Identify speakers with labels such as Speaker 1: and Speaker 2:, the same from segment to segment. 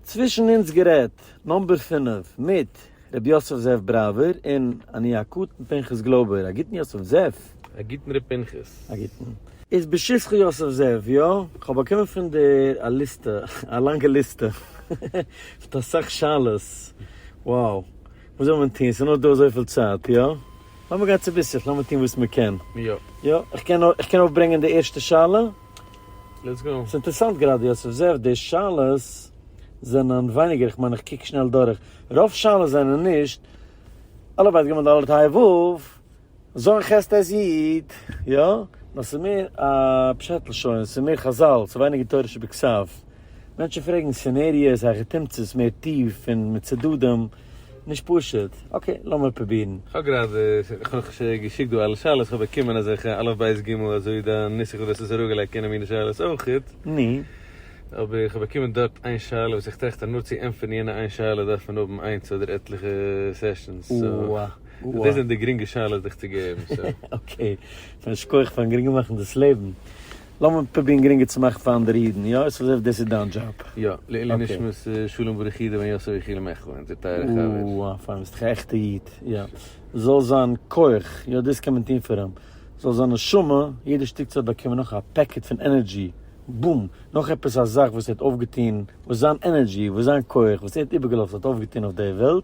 Speaker 1: צווישן אונז גערעדט, נאמבער פֿינף, מיט ר' יוסף זאב בראווער און אני הקטן פנחס גלויבער, א גוטן יוסף זאב. א גוטן ר' פנחס.
Speaker 2: א גוטן. איז
Speaker 1: בשבחו יוסף זאב, יא, כ'האב באקומען פון דיר א ליסטע, א לאנגע ליסטע, מיט אסאך שאלות, wow, וואס זאל מען טון, ס'איז נאר דא אזויפיל צייט, יא, לאמיר גיין צוביסלעך, לאמיר טון וואס מ'קען, יא, איך
Speaker 2: קען נאר,
Speaker 1: איך קען אויפברענגען די ערשטע שאלה?
Speaker 2: ס'איז אינטערעסאנט גראדע יעצט
Speaker 1: אבזערווד די שאלות זענען ווייניגער איך מיין איך קוק שנעל דורך רוב שאלות זענען נישט אלע בית גמ' ד' ה' ו' זוין ח' ט' י' יא נאר ס'איז מער א פשט לשון ס'איז מער חזל ס'איז ווייניגער תורה שבכסף מענטשן פרעגן סינעריעס היכי תמצות מער טיף און מיט צדדים. נישט פשוט, אקעי לאמיר פרובירן. כ'האב גראדע,
Speaker 2: כ'האב שוין געשיקט דא אלע שאלות, כ'האב באקומען אזעלכע אלף בית גימל אזוי די נוסח וואס דו האסט עס אראפגעלייגט קענען מינע שאלות אויכעט. ני.
Speaker 1: אבער כ'האב
Speaker 2: באקומען דארט איין שאלה וואס איך טראכט אז נאר צו ענטפערן יענע איין שאלה דארף מען האבן איינס אדער עטליכע סעשאנס, סאו דאס זענען די גרינגע שאלות דיך צו געבן. אקעי,
Speaker 1: א שכח פארן גרינגער מאכן דאס לעבן. לאמיר פרובירן גרינגער צו מאכן פאר אנדערע אידן, יא? עס איז אזוי ווי דאס איז דיין דזשאב. יא, לעילוי נשמת
Speaker 2: שלום בריך אידה בן יוסף יחיאל מעכו, אונזער טייערע חבר. אה, פיין, ביסט דאך א עכטע
Speaker 1: איד. יא. זאל זיין כח, יא דאס קען מען טון פאר אים. זאל זיין נשמה, יעדע שטיק צייט באקומען נאך א פעקעט פון ענערדזשי, בום! נאך עפעס א זאך וואס ער האט אויפגעטון, וואס זיין ענערדזשי, וואס זיין כח, וואס ער האט איבערגעלאזט האט אויפגעטון אויף די וועלט,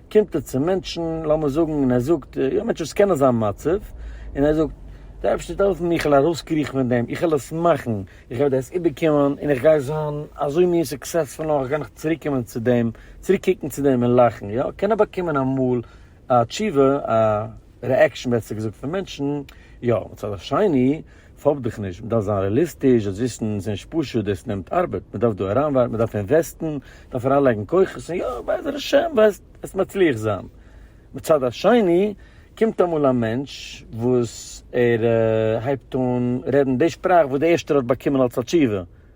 Speaker 1: קומט ער צו מענטשן, לאמיר זאגן, און ער זאגט, יא מענטשן וואס קענען זיין מצב, און ער זאגט, די אייבערשטער זאל העלפן מיר איך זאל ארויסקריכן פון דעם, איך וועל עס מאכן, איך וועל דאס איבערקומען, און איך גיי זיין אזוי מער סוקסעספול נאך, גיי איך צוריקקומען צו דעם, צוריק קוקן צו דעם און לאכן, יא, קען ער באקומען אמאל א תשובה, א רעעקשאן בעסער געזאגט פון מענטשן, יא, מצד השני, פאפ דיך נישט, מ'דארף זיין רעליסטיש, דאס וויסן איז נישט פשוט, דאס נעמט ארבעט, מ'דארף דא אריינווארפן, מ'דארף אינוועסטן, מ'דארף אריינלייגן כוחות, און יא, בעזר השם וועסט מצליח זיין. מצד השני, קומט אמאל א מענטש וואס ער הייבט אן רעדן די שפראך וואס די ערשטער האט באקומען אלס א תשובה,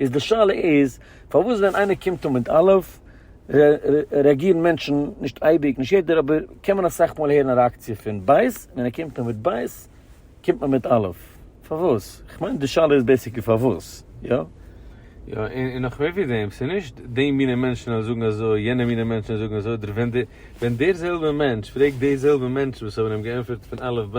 Speaker 1: איז די שאלה איז, פארוואס ווען איינער קומט אן מיט א', רעאגירן מענטשן, נישט אייביג, נישט יעדער, אבער קען מען אסאך מאל הערן א רעאקציע פון ב', ווען ער קומט אן מיט ב', קומט מען מיט א'. פארוואס? איך מיין די שאלה איז בעיסיקלי פארוואס, יא? יא, און
Speaker 2: נאך מער ווי דעם, ס'איז נישט די מינע מענטשן אז זאגן אזוי, יענע מינע מענטשן זאגן אזוי, אדער ווען דער זעלבער מענטש פרעגט די זעלבע מענטשן וואס האבן אים געענטפערט פון א' ב',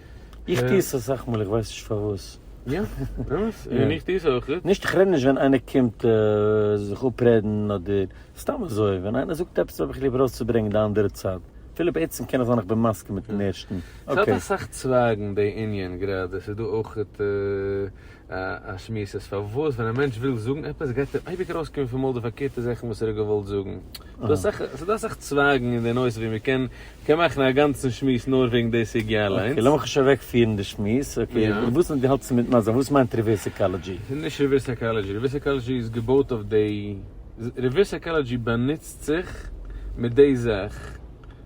Speaker 2: איך
Speaker 1: טוה עס אסאך מאל איך ווייס נישט פארוואס. יא?
Speaker 2: באמת? און איך טוה עס אויך. נישט איך רעד נישט ווען איינער
Speaker 1: קומט זיך אפרעדן אדער סתם אזוי ווען איינער זאגט עפעס האב איך ליב ארויסצוברענגן די אנדערע צד אפילו בעצם קען עס זיין איך בין מסכים מיטן ערשטן. ס'האט אסאך
Speaker 2: צווייגן די ענין גראדע ס'איז דא אויך. א שמועס אז פארוואס ווען א מענטש וויל זאגן עפעס גייט אים אייביג ארויסקומען פון מויל די פארקערטע זאכן וואס ער האט געוואלט זאגן, ס'דא אסאך צווייגן אין די נושא ווי מ'קען מאכן א גאנצן שמועס נאר וועגן די סוגיא אליינס. אקעי לאמיך נישט אוועקפירן
Speaker 1: די שמועס, אקעי דו ווילסט נישט געהאלטן צו מיט מזל, וואס מיינט ריווערס סיקאלעדזשי? ס'איז נישט ריווערס
Speaker 2: סיקאלעדזשי, ריווערס סיקאלעדזשי איז געבויט אויף די, ריווערס סיקאלעדזשי באנוצט זיך מיט די זאך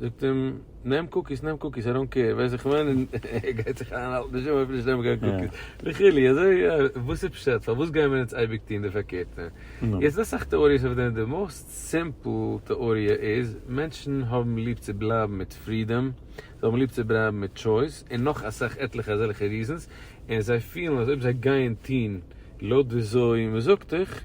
Speaker 2: זאגט אים, נעם קוקיס, נעם קוקיס, איי דאנט קעיר, ווייסט איך מיין, און ער גייט זיך איינהאלטן בשום אופן נישט נעמען קיין קוקיס, וכו', אזוי יא, וואס איז פשט, פארוואס גייען מיר אונז אייביג טון די פארקערטע? יעצט ס'דא אסאך טעאריעס אויף דעם, די מאוסט סימפל טעאריע איז, מענטשן האבן ליב צו בלייבן מיט פרידאם, זיי האבן ליב צו בלייבן מיט טשויס, און נאך אסאך עטליכע אזעלכע ריזענס, און זיי פילן אז אויב זיי גייען טון לויט וויאזוי מ'זאגט איך,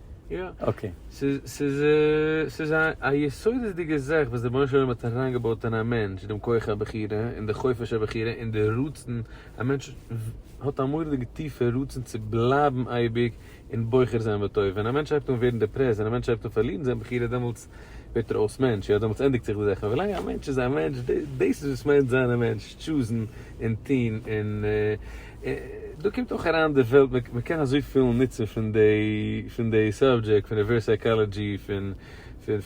Speaker 1: יא, אקעי.
Speaker 2: ס'איז ס'איז א יסודות'דיגע זאך וואס דער בון'שלום האט אריינגעבויט אין א מענטש, דעם כח הבחירה, און די חופש הבחירה, און די רצון, א מענטש האט א מורא'דיגע טיפע רצון צו בלייבן אייביג און בוחר זיין בטוב, ווען א מענטש הייבט אן ווערן דעפרעסט, ווען א מענטש הייבט אן פארלירן זיין בחירה, דעמאלטס ווערט ער אויס מענטש, יא דעמאלטס ענדיגט זיך די זאך, אבער ווילאנג א מענטש איז א מענטש, דאס איז וואס מיינט זיין א מענטש, טשוזן און טוהן, און דא קומט אויך אריין די וועלט, מען קען אזויפיל נוצן פון די, פון די סאבדזשעקט, פון ריווערס סייקאלעדזשי, פון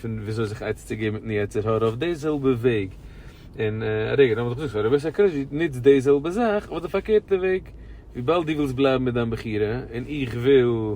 Speaker 2: פון וויאזוי זיך עצה צו געבן מיטן יצר הרע אויף די זעלבע וועג, און א רגע, נאכדעם וואס איך זאג פאר ריווערס סייקאלעדזשי נוצט די זעלבע זאך אבער די פארקערטע וועג, וויבאלד דו ווילסט בלייבן מיט דיין בחירה, און איך וויל.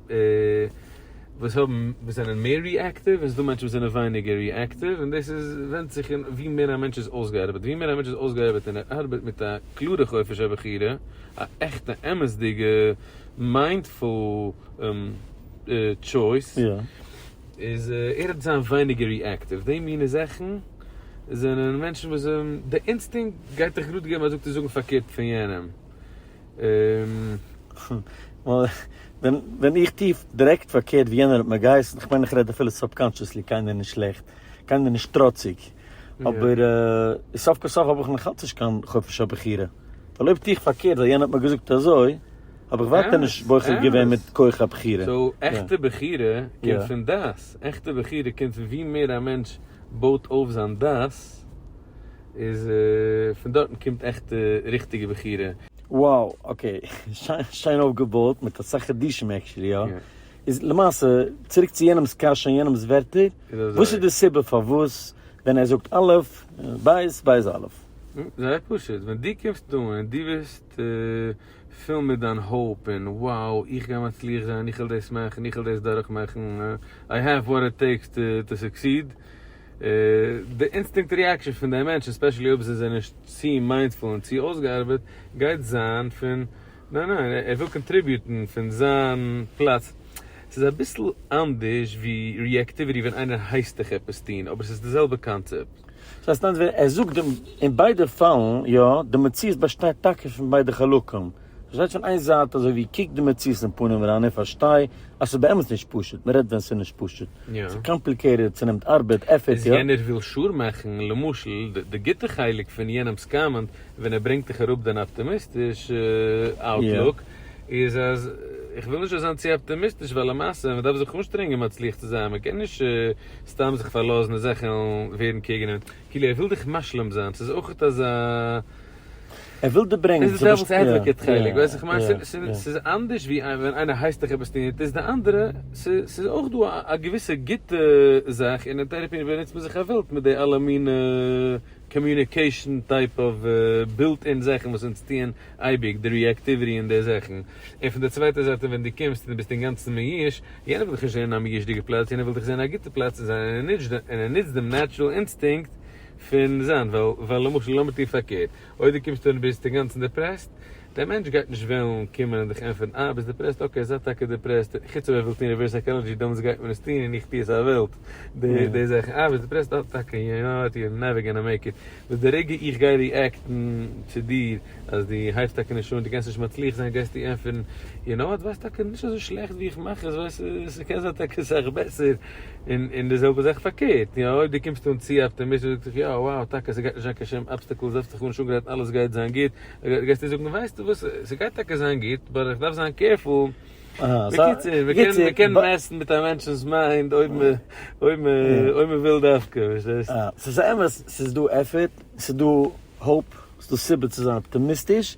Speaker 2: וואס האבן וואס זענען מער ריעקטיוו און ס'איז דא מענטשן וואס זענען ווייניגער ריעקטיוו און דאס איז ווענדט זיך אין ווי מער א מענטש איז אויסגעארבעט ווי מער א מענטש איז אויסגעארבעט און ער ארבעט מיט א קלארע חופש הבחירה א עכטע אמת'דיגע מיינדפול טשויס איז ער וועט זיין ווייניגער ריעקטיוו די מיני זאכן זענען מענטשן וואס די אינסטינקט גייט דיך גראד געבן א זאג צו זאגן פארקערט פון יענעם.
Speaker 1: ווען איך טוה דירעקט פארקערט ווי יענער האט מיר געהייסן, כ'מיין איך רעד אפילו סובקאנטשעסלי קיינער נישט שלעכט, קיינער נישט טראציג, אבער סוף כל סוף האב איך נאכאלץ נישט קיין חופש הבחירה, ווייל אויב טוה איך פארקערט ווייל יענער האט מיר געזאגט אזוי, האב איך ווייטער נישט בוחר געווען מיט כח הבחירה. סאו עכטע בחירה קומט
Speaker 2: פון דעת, עכטע בחירה קומט פון ווי מער א מענטש בויט אויף זיין דעת, איז פון דארטן קומט עכטע ריכטיגע בחירה. וואו אקעי,
Speaker 1: שיין אויפגעבויט מיט אסאך חידושים עקשעלי יא. איז למעשה, צוריק צו יענעמ'ס קשיא און יענעמ'ס ווערטער, וואס איז די סיבה פארוואס ווען ער זאגט א', בית, בית א'? זייער פשוט,
Speaker 2: ווען דו קומסט אן און דו ביסט פול מיט דיין האופ און wow איך גיי מצליח זיין, איך וועל דאס מאכן, איך וועל דאס דורכמאכן, I have what it takes to succeed, די אינסטינקט ריעקשאן פון די מענטשן ספעשעלי אויב זיי זענען נישט צו מיינדפול און צו אויסגעארבעט גייט זיין פון ניין ניין ער וויל קאנטריביוטן פון זיין פלאץ. ס'איז אביסל אנדערש ווי ריעקטיוויטי ווען איינער הייסט דיך עפעס טון אבער ס'איז די זעלבע קאנצעפט. ס'איז אסאנדערש ווען
Speaker 1: ער זאגט דעם. אין ביידע פאלן יא, די מציאות באשטייט טאקע פון ביידע חלקים. פארשטייט פון איין זייט אזוי ווי קוק די מציאות אין פנים אריין און פארשטיי אז ס'איז באמת נישט פשוט, מען רעדט ווען ס'איז נישט פשוט, ס'איז קאמפליקעיטעד, ס'נעמט ארבעט, עפערט, יא. יענער וויל שור מאכן,
Speaker 2: למשל, די גוטע חלק פון יענעמ'ס קאמענט, ווען ער ברענגט דיך אראפ דיין אפטעמיסטישע אוטלוק, איז אז איך וויל נישט אויס זיין צו אפטעמיסטיש ווייל למעשה מען דארף זיך אנשטרענגען מצליח צו זיין, מען קען נישט סתם זיך פארלאזן און זאכן ווערן קעגן אים, כאילו ער וויל דיך משלים זיין, ס'איז אויכעט אזא. ער וויל
Speaker 1: דיר ברענגען צו פארשטיין. דאס איז דער וואס עדוואקעט
Speaker 2: חלק, ווייסט איך מיין, ס'איז אנדערש ווי ווען איינער הייסט דיך עפעס טון און טוסט די אנדערע, ס'איז אויך דא א געוויסע גוטע זאך, און אין טערעפי באנוצט מען זיך א ווילד מיט די אלע מינע קאמיוניקעישאן טייפ אוו בילט אין זאכן וואס אונז טוען אייביג, די ריעקטיוויטי און די זאכן, און פון די צווייטע זייט ווען דו קומסט און דו ביסט אינגאנצן מיואש, יענער וויל דיך נישט זען אין א מיואש'דיגע פלאץ, יענער וויל דיך זען אין א גוטע פלאץ, און ער נוצט דעם נעטשרעל אינסטינקט פון זיין ווייל למשל לאמיר טון פארקערט אויב דו קומסט אן און ביסט אינגאנצן דעפרעסט דער מענטש גייט נישט וועלן קומען און דיך ענטפערן אה ביסט דעפרעסט אקעי זיי טאקע דעפרעסט חוץ אויב ער וויל טון ריווערס סייקאלעדזשי דאמאלס גייט מען עס טון און איך טו עס א וועלט די זאכן אה ביסט דעפרעסט אה טאקע יו נאו וואט יו נעווער גאנא מעיק איט וואס די רגע איך גיי ריעקטן צו דיר אז דו הייבסט טאקע נישט אן דו קענסט נישט מצליח זיין גייסטו ענטפערן יו נאו וואט ווייסט טאקע נישט אזוי שלעכט ווי איך מאך עס ווייסט ס'קען זיין טאקע סאך בעסער. און די זעלבע זאך פארקערט, יא, אויב דו קומסט אן צו אפטעמיסטיש און זאגסט זיך, יא, וואו, טאקע, ס'גייט נישט זיין קיין שום אבסטעקלס, זעץ דיך אן, נישט אפגערעדט, אלעס גייט זיין גוט, גייסטו זאגן, ווייסטו וואס, ס'גייט טאקע זיין גוט, באט איך דארף זיין קעירפול. בקיצור, מען קען מעסטן מיט א מענטשנ'ס מיינד אויב מען וויל דווקא, פארשטייסט? ס'איז אמת, ס'איז
Speaker 1: דא עפערט, ס'איז דא האופ, ס'איז דא סיבה צו זיין אפטעמיסטיש,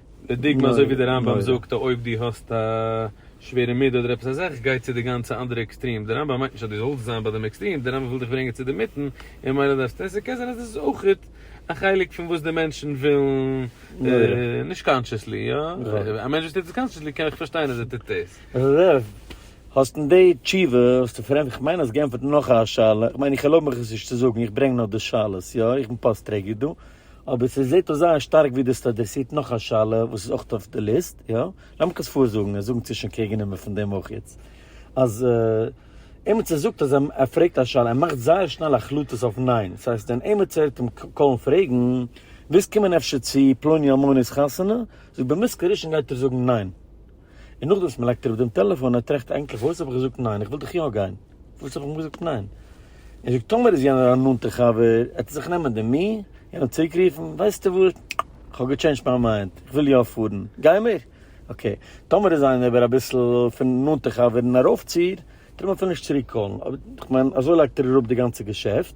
Speaker 2: לדוגמא אזוי ווי די רמב ם זאגט אז אויב דו האסט א שווערע מידה אדער עפעס אזאך גיי צו די גאנצע אנדערע עקסטרים, די רמב ם מיינט נישט אז דו זאלסט זיין ביי דעם עקסטרים, די רמב ם וויל דיך ברענגען צו די מיטן און ממילא דארפסטו עסן כעס און עס איז אויכעט א חלק פון וואס די מענטשן ווילן נישט קאנטשעסלי יא? א מענטש וואס טוט עס קאנטשעסלי קען איך פארשטיין אז ער טוט דאס.
Speaker 1: האסט אין די תשובה האסטו פאר אים איך מיין האסט געענטפערט נאך א שאלה, איך מיין איך ערלויב מיך עס נישט צו זאגן איך ברענג נאר די שאלות יא? איך בין פאסט טרעגער דא. אבער ס'זעט אויס זייער שטארק ווי דאס אדרעסירט נאך א שאלה וואס איז אויך אויף די ליסט, יא? לאמיך עס פארזאגן און זאגן צווישן קעגננעמער פון דעם אויך איז, אז עימיצער זאגט אז ער פרעגט א שאלה, ער מאכט זייער שנעל החלטות אויף ניין, ס'הייסט ווען עימיצער הערט אים קאלן פרעגן, ווילסט קומען אפשר צו פלוני אלמוני'ס חתונה? זאגט במס' כראשון גייט ער זאגן ניין. און נאכדעם וואס מ'לייגט אראפ דעם טעלעפאן, ער טראכט ענדליך אויס האב איך געזאגט ניין? איך וויל דאך יא גיין. וואס איך האב אים געזאגט ניין. ער זאגט טאמער איז יענער א נאנטע חבר, עט ער זיך נעמען די מי און אים צוריק רופן, ווייסטו וואס, כ'האב געטשעינדזשט מיין מיינד, איך וויל יא פארן, גיימיר? אקעי. טאמער איז איינער אבער אביסל פון נאנטע חבר און ארויפציר, טאר מען אפילו נישט צוריק קאלן, אבער כ'מיין אזוי לייגט ער אראפ די גאנצע געשעפט,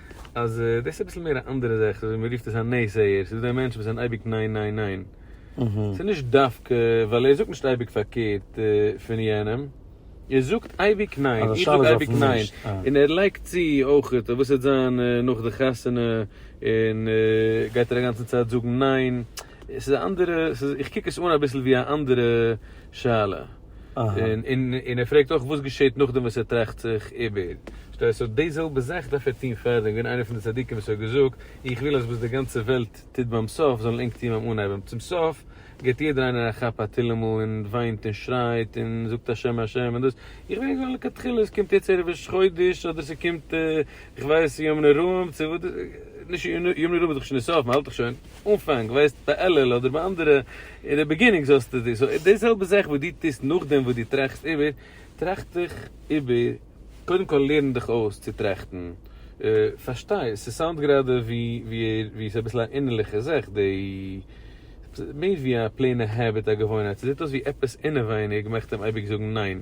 Speaker 2: אז דאס איז אביסל מער א אנדערע זאך, אזוי ווי מ'רופט עס א נעזעהער, ס'איז דא די מענטשן וואס זענען אייביג ניין ניין ניין. ס'איז נישט דווקא ווייל ער זאגט נישט אייביג פארקערט פון יענעם, ער זאגט אייביג ניין, איך זאג אייביג ניין, און ער לייגט צו אויך, אויב וואס וועט זיין נאך די חתונה, און גייט ער אגאנצן צייט זאגן ניין. עס איז א אנדערע, איך קוק עס אן אביסל ווי א אנדערע שאלה. און און ער פרעגט אויך וואס געשעט נאכדעם וואס ער טראכט זיך איבער. פארשטייסט? סאו די זעלבע זאך דארף ער טון פארדעם, געווען איינער פון די צדיקים וואס האט געזאגט, איך וויל אז וואס די גאנצע וועלט טוט ביים סוף זאלן ענק טון ביים אנהייבן. צום סוף געבט יעדער איינער א כאפ א תהילים'ל און וויינט און שרייט און זאגט השם השם און דאס. איך וויל זאגן לכתחילה עס קומט יעצט ערב ראש חודש אדער ס'קומט איך ווייס יום נרום צו וואס נישט יום נרום איז דאך שוין אין סוף מ'האלט דאך שוין. אנפאנג ווייסטו ביי אלל אדער ביי אנדערע אין די ביגינינג זאלסטו דיר סאו די זעלבע זאך וואס דו טוסט נאכדעם וואס דו טראכסט איבער טראכט דיך איבער קודם כל לערן דיך אויס צו טראכטן פארשטיי ס'סאונד גראדע ווי ווי ס'איז אביסל א אינערליכע זאך די מער ווי א פלעינע העביט א געוואוינהייט ס'זעט אויס ווי עפעס אינעווייניג מאכט אים אייביג זאגן ניין.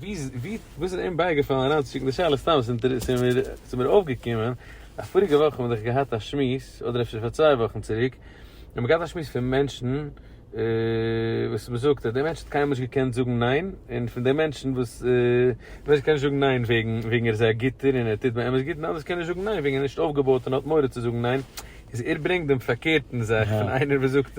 Speaker 2: ווי וואס איז עהם בייגעפאלן אריינצושיקן די שאלה? סתם ס'איז אינטערעס ס'איז מיר ס'איז מיר אויפגעקומען אז פאריגע וואך האבן מיר דאך געהאט א שמועס אדער אפשר פאר צוויי וואכן צוריק האבן מיר געהאט א שמועס פון מענטשן וואס מ'זאגט אז דער מענטש האט קיינמאל נישט געקענט זאגן ניין און פון די מענטשן וואס מענטש קען נישט זאגן ניין וועגן וועגן ער איז א גוטער און ער טוט באמת גוט און אנדערש קען נישט זאגן ניין וועגן ער איז נישט אויפגעבויט און האט מורא צו זאגן ניין איז ער ברענגט דעם פארקערטן זאך פון איינער וואס זאגט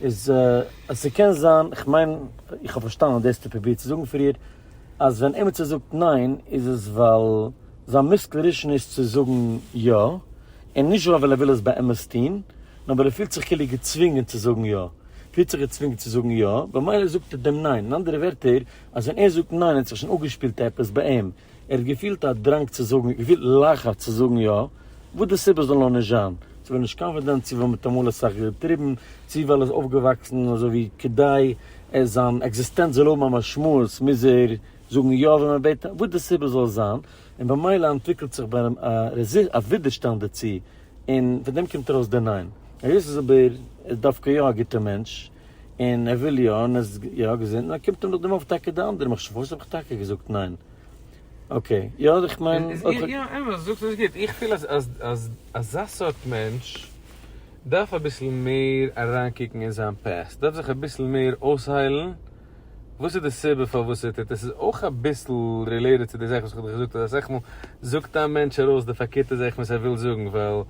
Speaker 1: איז אז ס'קען זיין, כ'מיין איך האב פארשטאנען דאס האסטו פרובירט צו זאגן פריער, אז ווען עימיצער זאגט ניין איז עס ווייל זיין מוסקל ראשון איז צו זאגן יא, און נישט ווייל ער וויל עס באמת טון, נאר ווייל ער פילט זיך כאילו געצווינגען צו זאגן יא, פילט זיך געצווינגען צו זאגן יא, במילא זאגט ער דעם ניין, אין אנדערע ווערטער, אז ווען ער זאגט ניין האט זיך שוין אפגעשפילט עפעס ביי אים. ער האט געפילט א דראנג צו זאגן, געפילט לחץ צו זאגן יא, וואס די סיבה זאל נאר נישט זיין, צו ווער נישט קאנפידענט, צו ווייל מען האט אמאל אסאך געטריבן, צו ווייל ער איז אויפגעוואקסן אזוי ווי כדי זיין עקזיסטענץ זאל האבן א משמעות מוז ער זאגן יא ווען מען בעט אים, וואס די סיבה זאל זיין, און במילא אנטוויקלט זיך ביי אים א רעזיסט, א ווידערשטאנד דערצו, און פון דעם קומט ארויס די ניין. היות איז אבער דווקא יא א גוטע מענטש. און ער וויל יא, און ער איז יא געזונט, און קומט אים נאכדעם אויף טאקע די אנדערע מחשבה, פארוואס האב איך טאקע געזאגט ניין? אקעי, יא איך מיין. יא אמת, דו זאגסט
Speaker 2: עס גוט, איך פיל אז אז אזא סארט מענטש דארף אביסל מער אריינקוקן אין זיין פּעסט, דארף זיך אביסל מער אויסהיילן וואס איז די סיבה פארוואס ער טוט עס, עס איז אויך אביסל רילעיטעד צו די זאך וואס איך האב דיך געזאגט אז אסאך מאל זאגט א מענטש ארויס די פארקערטע זאך וואס ער וויל זאגן ווייל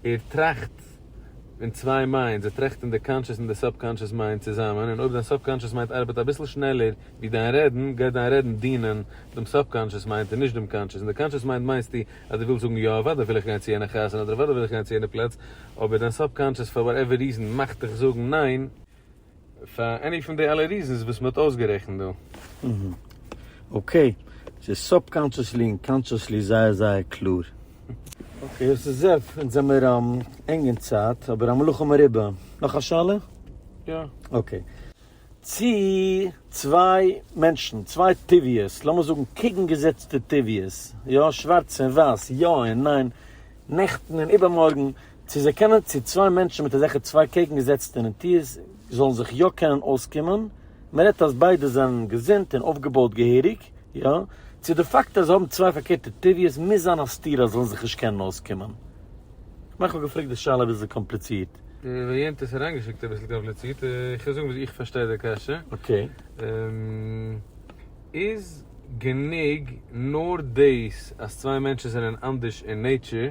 Speaker 2: ער טראכט. און צוויי מיינדס, זיי טראכטן די קאנטשעס און די סובקאנטשעס מיינד צוזאמען, און אויב דיין סובקאנטשעס מיינד ארבעט אביסל שנעלער ווי דיין רעדן, גייט דיין רעדן דינען דעם סובקאנטשעס מיינד און נישט דעם קאנטשעס, און די קאנטשעס מיינד מיינסטו אז דו ווילסט זאגן יא אוודאי וויל איך גיין צו יענע חתונה אדער אוודאי וויל איך גיין צו יענע פלאץ, אבער דיין סובקאנטשעס פאר וואטעווער ריזען מאכט דיך זאגן ניין. פאר עני פון די אלע ריזענס וואס מען האט אויסגערעכנט דא. אהה
Speaker 1: אקעי, ס'איז סוב-קאנשעסלי און קאנשעסלי זייער זייער קלאר. אקעי, עס איז זעט אונז זעמיר ענג אין צייט, אבער המלאכה מרובה. נאך א שאלה? יא.
Speaker 2: אקעי.
Speaker 1: צי צוויי מענטשן, צוויי טבעיות, לאמיר זאגן קעגנגעזעצטע טבעיות, יא, שווארץ און ווייס, יא און ניין, נעכטן און איבערמארגן, צו זיי קענען צו צוויי מענטשן מיט אזעלכע צוויי קעגנגעזעצטע נטיות זאלן זיך יא קענען אויסקומען, מען רעדט אז ביידע זענען געזונט און אויפגעבויט געהעריג, יא, צו די פאקט אז זיי האבן צוויי פארקערטע טבעיות מוז זיין א סתירה אז זיי זאלן זיך נישט קענען אויסקומען? כ'מיין כ'האב געפרעגט די שאלה אביסל קאמפליצירט. ווען יענטע האט עס
Speaker 2: אריינגעשיקט אביסל קאמפליצירט, איך וועל זאגן ווי איך פארשטיי די קשיא. אקעי. איז גענוג נאר דאס אז צוויי מענטשן זענען אנדערש אין נעיטשער?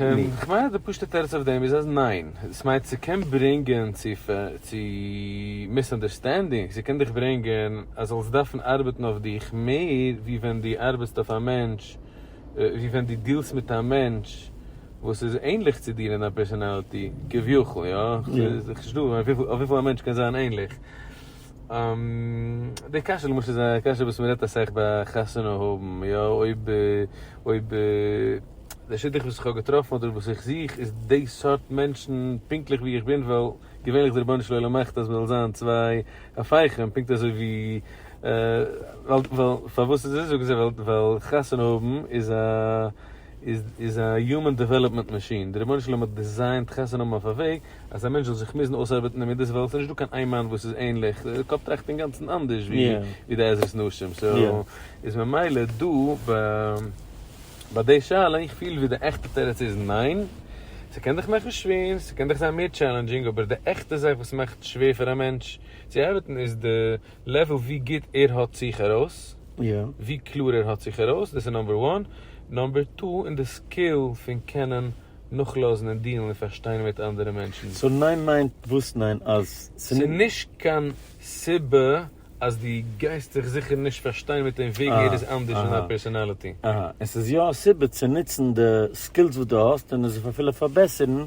Speaker 1: און
Speaker 2: כ'מיין אז די פשוט'ע תירוץ אויף דעם איז אז ניין, דאס מיינט ס'קען ברענגען צו מיסאנדערסטענדינג, ס'קען דיך ברענגען אז זאלסט דארפן ארבעטן אויף דיך מער ווי ווען דו ארבעטסט אויף א מענטש, ווי ווען דו דילסט מיט א מענטש וואס איז ענליך צו דיר אין דיין פערסאנאליטי, כביכול, יא, כ'זע נישט דא אויף וויפיל א מענטש קען זיין ענליך. די קשיא למשל איז א קשיא וואס מ'רעדט אסאך ביי חתונה האבן, יא, אויב, אויב די שידוך וואס איך האב געטראפן אדער וואס איך זוך איז די סארט מענטשן פונקטליך ווי איך בין ווייל געווענליך די רבונו של עולם מאכט אז מ'זאל זיין צוויי הפכים פונקט אזוי ווי ווייל ווייל פארוואס איז עס אזוי זאגן זיי ווייל חתונה האבן איז א איז א יומען דעוועלאפמענט מאשין, די רבונו של עולם האט דיזיינט חסד נאמען אויף א וועג אז א מענטש זאל זיך מוזן אויסארבעטן אין מידות וועלט, ס'איז נישטא קיין איין מאן וואס איז ענליך, דער קאפ טראכט אינגאנצן אנדערש ווי די עזרת נשים, סאו איז ממילא דא ביי די שאלה איך פיל ווי די עכטע תירוץ איז ניין, ס'קען דיך מאכן שווער, ס'קען דיך זיין מער טשעלענדזשינג, אבער די עכטע זאך וואס מאכט שווער פאר א מענטש צו ארבעטן איז די לעוועל ווי גוט ער האט זיך ארויס, ווי קלאר ער האט זיך ארויס, דאס איז נאמבער וואן, נאמבער טו אין די סקיל פון קענען נאכלאזן און דיעלן און פארשטיין מיט אנדערע מענטשן. סאו ניין מיינט
Speaker 1: וואס ניין? אז ס'איז נישט. ס'נישט
Speaker 2: קיין סיבה אז דו גייסט זיך זיכער נישט פארשטיין מיט אים וועגן ער איז אנדערש אין זיין פערסאנאליטי. אהא, עס איז יא א
Speaker 1: סיבה צו נוצן די סקילס וואס דו האסט און עס אפילו פארבעסערן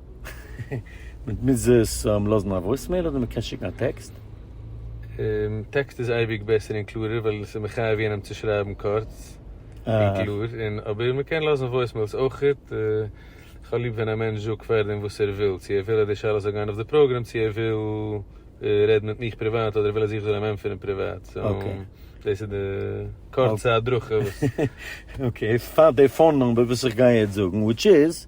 Speaker 1: מען מוז עס לאזן א וואויסמעיל אדער מען קען שיקן א
Speaker 2: טעקסט? טעקסט איז אייביג בעסער און קלארער ווייל עס איז מחייב יענעם צו שרייבן קורץ און קלאר, אבער מען קען לאזן וואויסמעילס אויך, איך האב ליב ווען א מענטש זאגט פארדעם וואס ער וויל, צו ער וויל אז די שאלה זאל גיין אויף די פראגרעם, צו ער וויל רעדן מיט מיך פריוואט אדער ער וויל אז איך זאל אים ענטפערן פריוואט, סאו דאס איז די קורצע הדרכה וואס. אקעי,
Speaker 1: פאר די פאון נומבער וואס איך גיי יעצט זאגן, וויטש איז.